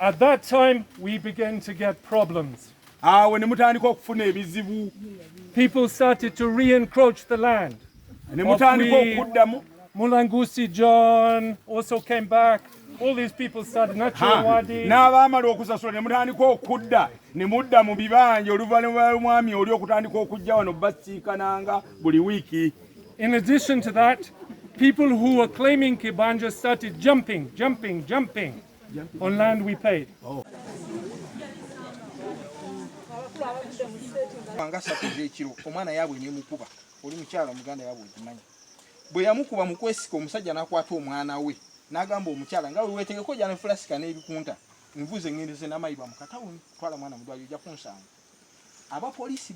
At that time we began to get problems. Awo ne mutandika okufuna ebizibu. People started to re-encroach the land. Ne mutandika okuddamu. Mulangusi John also came back. All these people started not sure what they... N'abaamala okusasula ne mutandika okudda ne mudda mu bibanja oluvannyuma lw'omwami oli okutandika okujja wano basiikananga buli wiiki. In addition to that, people who were claiming Kibanja started jumping, jumping, jumping on land we paid. Oh. nga satu ezekiro omwana yaabwe nemukuba oli mukyala omuganda yaabwe ogimanyi bwe yamukuba mu kwesika omusajja n'akwata omwana we n'agamba omukyala nga wewetegeko jana fulasika n'ebikunta nvuze ŋŋendeze n'amayiba mu katawuni twala mwana mu ddwaliro ojja kunsanga abapoliisi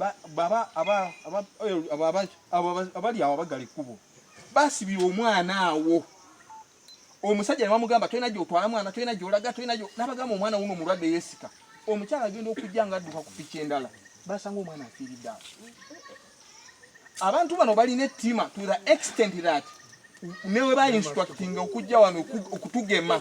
abali awo abagala ekkubo basibira omwana awo omusajja ne bamugamba tolina gyotwala mwana tolina gyolaga tolina nabagamba omwana wuno omulwadde yesika omukyala agenda okujja nga adduka ku piki endala basanga omwana afiiridde awo abantu bano balina ettima to the extent that newe ba instructing okujja wano okutugema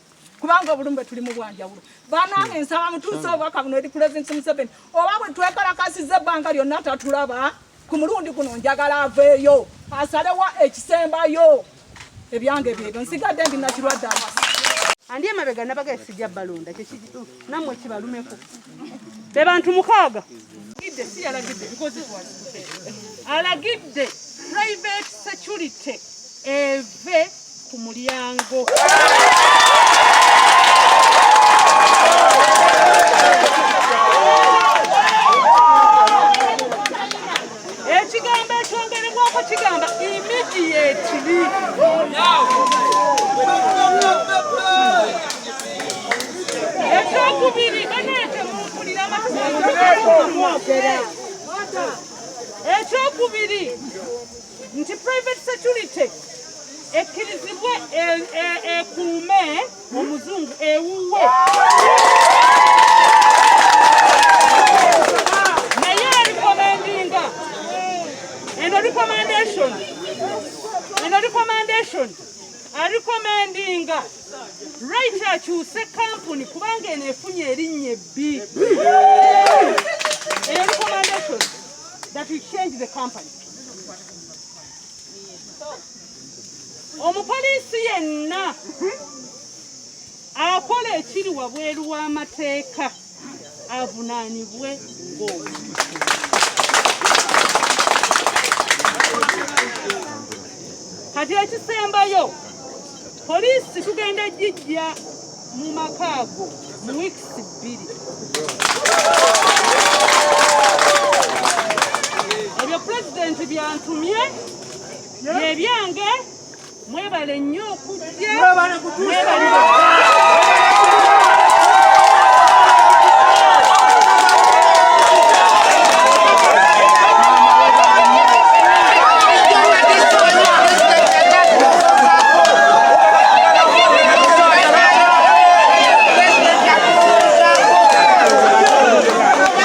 kubanga obulumbe tuli mu bwanjawulo banange nsaba mutuuse obubaka buno eri pulezidenti museveni oba bwe twekalakasiza ebbanga lyonna tatulaba ku mulundi guno njagala aveeyo asalewa ekisembayo ebyange byebyo nsigadde ndi nakirwadde awasa andi emabega nabaga esijja balonda kyekikituufu namwe kibalumeko be bantu mukaaga alagidde private security eve ku mulyango ekigambo ekyongerebwako kigamba immediately ekyokubiri banange mumpulira ekyokubiri nti private security ekkirizibwe ekuume e, e, e, omuzungu ewuwe naye erikomendinga eno recommendation eno recommendation arikomendinga right akyuse kampuni kubanga eno efunye erinnya ebbi eyo recommendation that we change the company omupoliisi yenna akola ekiri wabweru w'amateeka avunaanibwe ng'omu kati ekisembayo poliisi tugenda gijja mu maka ago mu wiikisi bbiri ebyo pulezidenti byantumye byebyange mwebale nnyo okujja mwebale